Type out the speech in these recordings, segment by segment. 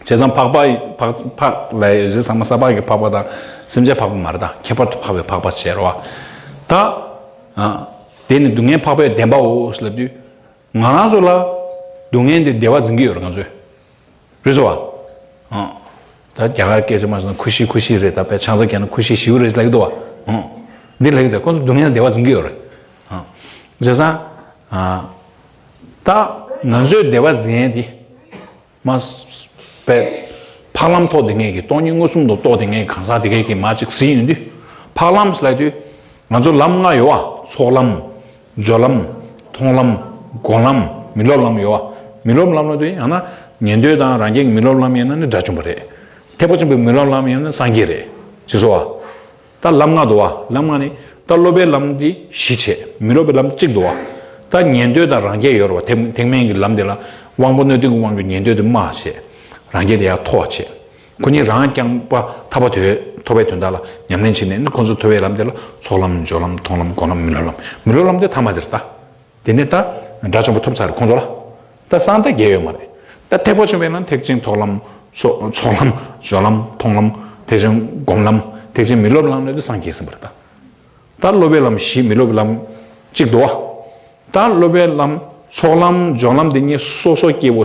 བྱས་ཙང་འཕགས་པ་འཕགས་ལ་ཡི་གེ་ཚང་མ་ས་ཕག་གི་འཕགས་པ་དང་སེམས་ཅན་འཕགས་པ་མ་རེད་དཱ་ཁྱད་པར་དུ་འཕགས་པའི་འཕགས་པ་ཟེར་བ་དང། དེ་ནི་སྡུག་བསྔལ་འཕགས་པའི་བདེན་པའོ་ཞེས་ལབ་དུས། ང་རང་ཚོ་ལ་སྡུག་བསྔལ་འདི་བདེ་བ་འཛིན་གྱི་ཡོད་རེད་ང་ཚོས། རེད་ཟེར་བ། ད་རྒྱ་གར་སྐད་ཆ་སྨྲ་ཟེར་ན་ཁུ་བཞི་ཁུ་བཞི་རེད་ད་བས་ཆང་ས་རྒྱག་ན་ཁུ་བཞི་བཞིའུ་རེད་ཟེར་ལེགས་འདུག་བ། འདི་ལེགས་འདུག་ཁོ་ཚོ་སྡུག་བསྔལ་བདེ་བ་འཛིན་གྱི་ཡོད་རེད། བྱས་ཙང། ད་ང་ཚོས་བདེ་བ་འཛིན་ཡས་དེ། མ་བས། འཕགས་ལམ་ཐོག་དེ་སྔའི་གི་སྟོང་ཉིད་མངོན་སུམ་དུ་རྟོགས་དེ་སྔའི་གང་ཟག་དེ་སྐད་ཀྱིས་མ་གཅིག་གཟིགས་ཡོང་དུས། འཕགས་ལམ་སླད་དུ། ང་ཚོར་ལམ་ལྔ་ཡོད། ཚོགས་ལམ། སྦྱོར་ལམ། མཐོང་ལམ། སྒོམ་ལམ། མི་སློབ་ལམ་ཡོད། མི་སློབ་ལམ་ལ་དུས་ཡང་ན་ཉན་ཐོས་དང་རང་རྒྱལ་གྱི་མི་སློབ་ལམ་ཡང་ན་ནི་དགྲ་བཅོམ་པ་རེད། ཐེག་པ་ཆེན་པོའི་མི་སློབ་ལམ་ཡང་ན་སངས་རྒྱས་རེད། ཅེས་སོ། ལྟ་ལམ་ལྔ་འདུ་བ་ལམ་ལྔ་ནི། ལྟ་སློབ་པའི་ལམ་གྱི་བཞི་བྱས། མི་སློབ་པའི་ལམ་གཅིག་འདུ་བ། ལྟ་ཉན་ཐོས་དང་རང་རྒྱལ་ཡོད་རེ་བ། ཐེག་དམན་གྱི་ལམ་འདི་ལ། དབང་པོ་སྣོད་ལྡན་ཀུན་དབང་གི་ཉན་ཐོས་དུ་མ་བྱས། རང་རྒྱལ་དེ་ཡང་མཐོ་བ་བྱས། ཁོ་གཉིས་རང་རྐྱང་པ་ཐར་པ་དོན་ཐོབ་པའི་དོན་དག་ལ་ཉམས་ལེན་བྱས་ནས་ནི་ཁོ་ཚོ་མཐོ་བའི་ལམ་དེ་ལ་ཚོགས་ལམ་སྦྱོར་ལམ་མཐོང་ལམ་སྒོམ་ལམ་མི་སློབ་ལམ་མི་སློབ་ལམ་དེ་ཐ་མ་དེར་ལྟ། དེ་ནས་ད་དགྲ་ཆེན་པོ་ཐོབ་ཚར་ཁོང་ཚོ་ལ་ད་སང་ད་རྒྱལ་ཡོད་མ་རེད་ད་ཐེག་པ་ཆུང་བའི་ནང་ཐེག་ཆེན་ཐོག་ལམ། ཚོགས་ལམ། སྦྱོར་ལམ། མཐོང་ལམ། ཐེག་ཆེན་སྒོམ་ལམ། ཐེག་ཆེན་མི་སློབ་ལམ་ནས་དུ་སང་རྒྱལ་ཟིན་པ་རེད་ད། ད་སློབ་པའི་ལམ་བཞི་མི་སློབ་པའི་ལམ་གཅིག་དུ་བ། ད་སློབ་པའི་ལམ་ཚོགས་ལམ་སྦྱོར་ལམ་འདི་གཉིས་སོ་སོ་སྐྱེ་བོ།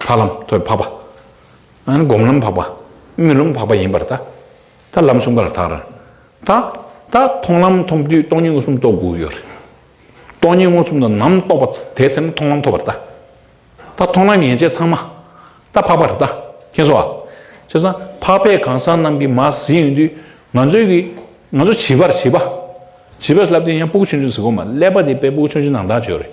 འཕགས་ལམ་ཐོད་འཕགས་པ། སྒོམ་ལམ་འཕགས་པ། སྨོན་ལམ་འཕགས་པ་ཡིན་པར་ཐལ། ལམ་གསུམ་ཀ་ལ་ཐག་རིང། ད་ལྟ་མཐོང་ལམ་མཐོང་དུས་སྟོང་ཉིད་མངོན་སུམ་རྟོགས་དགོས་ཡོད་རེད། སྟོང་ཉིད་མངོན་སུམ་དུ་ནམ་རྟོགས་པ་དེའི་ཚེ་ན་མཐོང་ལམ་ཐོབ་པར་ཐལ། ད་མཐོང་ལམ་ཡན་ཆད་ཚང་མ་ད་འཕགས་པར་ཐལ། མཁྱེན་གསོལ་བ། བྱས་ཙང་འཕགས་པའི་གང་ཟག་རྣམས་ཀྱིས་མ་ཟིན་ཡོད་དུས་ང་ཚོས་ཀྱིས་ང་ཚོ་བྱིས་པར་བྱིས་པ། བྱིས་པས་ལབ་དུས་ཡང་སྤུ་གུ་ཆུང་ཆུང་ཟིག་གོ་མ་ཀླད་པ་དེ་དཔེ་སྤུ་གུ་ཆུང་ཆུང་ནང་དག་བྱས་ཡོད་རེད།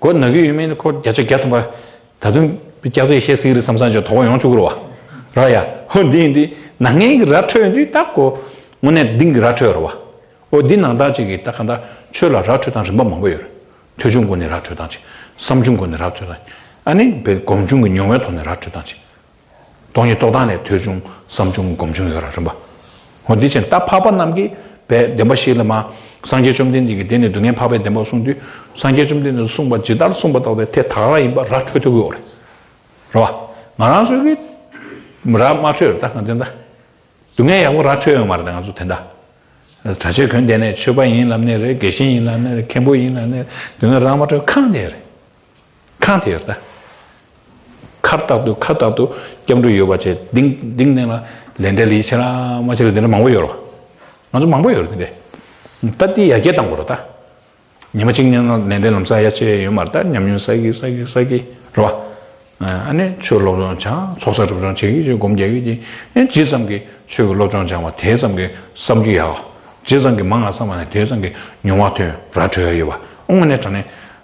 གོ་ནག་གི་ཡུལ་མིན་ནི་ཁོ་བརྒྱ་ཆ་བརྒྱ་ཐམ་པ་ད་དུང་སྐྱག་རྫས་བཤད་སྲིད་རི་སམ་སང་ཅོག་དོག་ཡོང་བཅུག་རོ་བ་ར་ཡ་ཧོ་འདི་ཡིན་དེ་ནག་ངན་གི་ར་འཕྲོད་དུས་ད་གོ་དངོས་གནས་དིང་གི་ར་འཕྲོད་རོ་བ་ཨོ་འདི་ནང་བདག་ཅིག་གིས་ད་ག་ད་ཆོས་ལ་ར་འཕྲོད་སྟངས་རིམ་པ་མང་པོ་ཡོད་རེད་ཐོས་ཆུང་སྒོ་ནས་ར་འཕྲོད་སྟངས་ཅིག་བསམ་ཆུང་སྒོ་ནས་ར་འཕྲོད་སྟངས་ཅིག་ཨ་ནི་བེད་སྒོམ་ཆུང་གི་མྱོང་བའི་ཐོག་ནས་ར་འཕྲོད་སྟངས་ཅིག་སྟོང་ཉིད་རྟོགས་དང་ནི་ཐོས་ཆུང་བསམ་ཆུང་སྒོམ་ཆུང་ཡོད་རང་རིམ་པ། ཧོ་འདི་བཞིན་རྟ་ཕག་པ་རྣམས་ཀྱིས་པའི་བདེན་པ་ཞིག་ལ་མ། སངས་རྒྱས་བཅོམ་ལྡན་འདས་ཀྱིས་དེ་ནི་སྡུག་བསྔལ་འཕགས་པའི་བདེན་པར་གསུངས་དུས་སངས་རྒྱས་བཅོམ་ལྡན་འདས་གསུངས་པ་ཇི་ལྟར་གསུངས་པ་ལྟ་བུ་དེ་ཐད་དགག་རང་ཡིན་པ་ར་འཕྲོད་ཐུབ་ཀྱི་འོ་རེད་བ། ང་རང་ཚོས་ཀྱིས་ར་མ་འཕྲོད་ད་ང་དེ་འད། སྡུག་བསྔལ་ཡག་པོ་ར་འཕྲོད་ཡོང་བ་རེད་ད་ང་ཚོ་དེ་འད། གྲྭ་ཆོས་གོས་འདས་ནས་ཆོས་པ་ཡིན་ལབ་ནས་རེད་དགེ་བཤེས་ཡིན་ལབ་ནས་རེད་མཁན་པོ་ཡིན་ལབ་ནས་རེད་སྡུག་བསྔལ་ར་མ་འཕྲོད་གང་འད་རེད། ཁང་དེ་ཡོད། ཁར་རྟག་ཏུ་ཁ་རྟག་ཏུ་སྐྱབས་འགྲོ་ཡོད་པ་བྱས། དེང་དེང་ནས་ལ་ལས་འདྲེ་ལི་ཆེ་ར་དམའ་ཆེ་ར་དེ་འདྲ་མང་པོ་ཡོད་རོ། ང་ཚོ་མང་པོ་ཡོད་རོ་དེ་འདྲས། ད་དེ་ཡར་རྒྱས་གཏང་དགོས་རོ་ད། ཉི་མ་གཅིག་ནས་ལ་ལས་འདྲེ་ལམ་ས་ཡ་ཆེ་ཡོད་མར་ད་ཉམས་མྱོང་ས་གི་ས་གི་ས་གི་རོ། ཨ་ནི་ཆོས་སློབ་སྦྱོང་བྱ་ཚོགས་བསགས་སྒྲུབ་སྦྱོང་བྱེད་ཀྱི་ཆོས་སྒོམ་རྒྱལ་ཀྱི་ཀྱི། ཨེ་ཇི་ཙམ་གྱི་ཆོས་ཀྱི་སློབ་སྦྱོང་སྦྱང་བ་དེ་ཙམ་གྱི་བསམ་རྒྱུ་ཡག། ཇི་ཙམ་གྱི་མང་ང་བསམ་བ་ནས་དེ་ཙམ་གྱི་མྱོང་བ་ཐོན་ར་གྲོལ་ཡ་ཡོད་པ། ཨོ་ང་ནས་དྲ་ནས་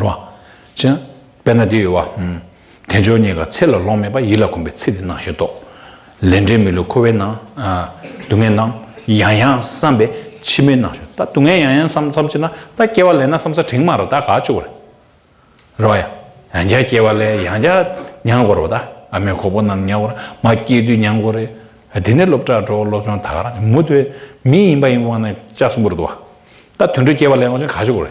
རོ། དཔྱད། དཔེར་ན་འདི་ཡོད་བ། དལ་འབྱོར་གཉིས་ཀ་ཚེ་ལ་ལོངས་མེད་པ་ཡིད་ལ་གོམས་པའི་ཚེ་འདི་སྣང་ཞིང་རྟོག། ལས་འབྲས་མི་ལུས་འཁོར་བའི་སྣང། སྡུག་བསྔལ་སྣང། ཡང་ཡང་བསམ་པས་ཕྱི་མའི་སྣང་ཞིང་ད་སྡུག་བསྔལ་ཡང་ཡང་བསམ་བསམ་བྱས་ན་ད་སྐྱེ་བ་ལེན་ན་བསམ་ས་དྲིང་མ་ར་ད་ག་བཅུག་ར། རོ། ཡང་བསྐྱར་སྐྱེ་བ་ལེན་ཡང་བསྐྱར་མྱང་དགོ་རོ་ད་ཨ་མའི་ཁོག་པོ་རྣམས་མྱང་དགོ་ར་མ་སྐྱེས་དུས་མྱང་དགོ་རེ། དེ་ནས་སློབ་གྲྭ་འགྲོ་སློབ་ཆུང་ད་ག་ར་མུ་མཐུད་མི་ཡིན་པ་ཡིན་པ་ན་ལྕགས་སུ་འབུར་དུ་བ། ད་དུད་འགྲོས་སྐྱེ་བ་ལེན་དགོ་ཅིང་ག་བཅུག་ར།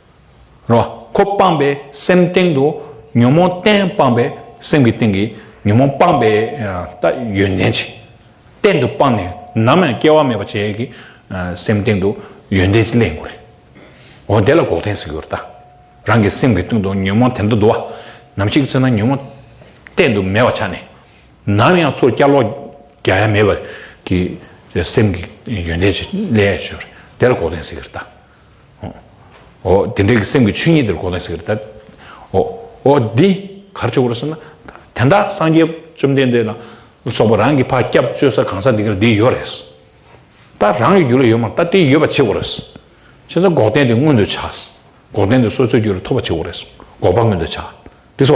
རོ། ཁོ་སྤངས་པའི་སེམས་སྟེང་དུ་ཉོན་མོངས་གཏན་སྤངས་པའི་སེམས་ཀྱི་སྟེང་གི་ཉོན་མོངས་སྤངས་པས་ལྟ་ཡོན་ཏན་ཅན་གཏན་དུ་སྤངས་ནས་ནམ་ཡང་སྐྱེ་བ་མེད་པར་བྱས་ཀྱི་སེམས་སྟེང་དུ་ཡོན་ཏན་ཅན་ལེན་དགོས་རེད། འོ་དེ་ལ་འགོག་བདེན་ཟེར་གྱི་རེད་ད། རང་གི་སེམས་ཀྱི་སྟེང་དུ་ཉོན་མོངས་དེ་འདྲ་འདུག་བ། ནམ་ཞིག་ཚེ་ན་ཉོན་མོངས་གཏན་དུ་མེད་པར་ཆགས་ནས་ནམ་ཡང་ཚུར་བསྐྱར་ལོག་རྒྱ་ཡ་མེད་པར་གྱི་སེམས་ཀྱི་ཡོན་ཏན་ཅན་ལེན་ཡ་ཆོད་རེད་དེ་ལ་འགོག་བདེན་ཟེར་གྱི་རེད་ད། འོ། དེ་འདྲའི་སེམས་ཀྱི་ཆོས་ཉིད་དེར་གོ་ན་ཟེར་ད། འོ། འོ་འདི་གར་བྱུང་བར་སེམས་ན། དེ་འདྲ་སངས་རྒྱས་བཅོམ་ལྡན་འདས་ལ་སོགས་པ་རང་གི་བར་སྐྱབས་བཅོལ་ས་གང་ས་དེ་གར་དེ་ཡོད་རེད། ད་རང་གི་རྒྱུད་ལ་ཡོད་མ་ད་དེ་ཡོད་པ་ཆེ་བོ་རེད། ཆེ་ས་འགོག་བདེན་དེ་མངོན་དུ་བྱ། འགོག་བདེན་དེ་སོ་སོའི་རྒྱུད་ལ་ཐོབ་པ་ཆེ་བོ་རེད། འགོག་པ་མངོན་དུ་བྱ། དེ་སོ།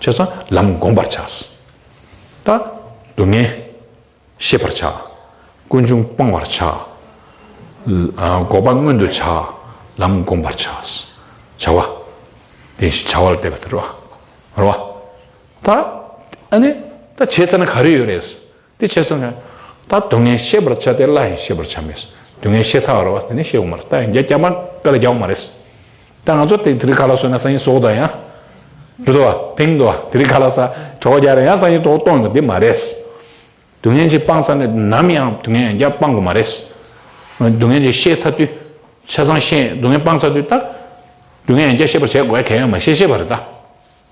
ཆོས་སྲང་ལམ་བསྒོམ་པར་བྱ། ལྟ། སྡུག་བསྔལ། ཤེས་པར་བྱ། ཀུན་འབྱུང་སྤང་བར་བྱ། འགོག་པ་མངོན་དུ་བྱ། ལམ་བསྒོམ་པར་བྱ། བྱ་བ། དེ་བཞིན་བྱ་བ་ལ་བལྟས་པ་དེ་རོ། རོ། ལྟ། ཨ་ནི། ད་བྱས་ཟེར་ན་ག་རེ་ཡོད་རེད། དེ་བྱས་སོང་ངས། ད་སྡུག་བསྔལ་ཤེས་པར་བྱ་སྟེ་སླ་ཡང་ཤེས་པར་བྱ་མེད། སྡུག་བསྔལ་ཤེས་ཚར་བ་རེད་བ་དེ་ནི་ཤེས་འོང་མ་རེད་ད་ཡང་རྒྱ་རྐྱང་པ་དཔེ་ལ་རྒྱག་འོང་མ་རེད། ད་ང་ཚོ་དེ་རིགས་ག་ལ་བཟོས་ན་ས་ཡིན་ཟོག་འདུག་ཡང། རེད་དོ། དེང་དུ་དེ་རིགས་ག་ལ་ས་གྲོགས་རྒྱག་རེད་ཡང་ས་ཡིན་ཐོག་གཏོང་དགོས་དེ་མ་རེད། སྡུག་བསྔལ་གྱིས་སྤངས་ཚར་ནས་ནམ་ཡང་སྡུག་བསྔལ་ཡང་བསྐྱར་སྤང་དགོས་མ་རེད། སྡུག་བསྔལ་གྱིས་ཤེས་ཚར་དུས། ཆ་ཚང་ཤེས་སྡུག་བསྔལ་སྤངས་ཚར་དུས་ད། སྡུག་བསྔལ་ཡང་བསྐྱར་ཤེས་པར་བྱེད་དགོས་གལ་ཡང་མ་ཤེས་ཤེས་པ་རེད་ད།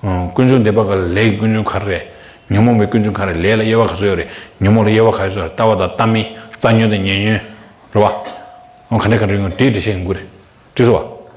ཀུན་འབྱུང་འདས་པ་ག་ལས་ཀྱི་ཀུན་འབྱུང་ག་རེ་རེད། ཉོན་མོངས་པའི་ཀུན་འབྱུང་ག་རེ་ལས་ལ་དབྱེ་བ་ག་ཚོད་ཡོད་རེད། ཉོན་མོངས་ལ་དབྱེ་བ་ག་ཡོད་ཚོད་རེད་ལྟ་བ་དང་ལྟ་མིན། རྩ་ཉོན་དང་ཉེ་ཉོན། རེད་བ། ག་འདྲའི་ག་འདྲའི་ཡོད་དེ་འདྲ་བཤད་དགོས་རེད། དྲིས་བ།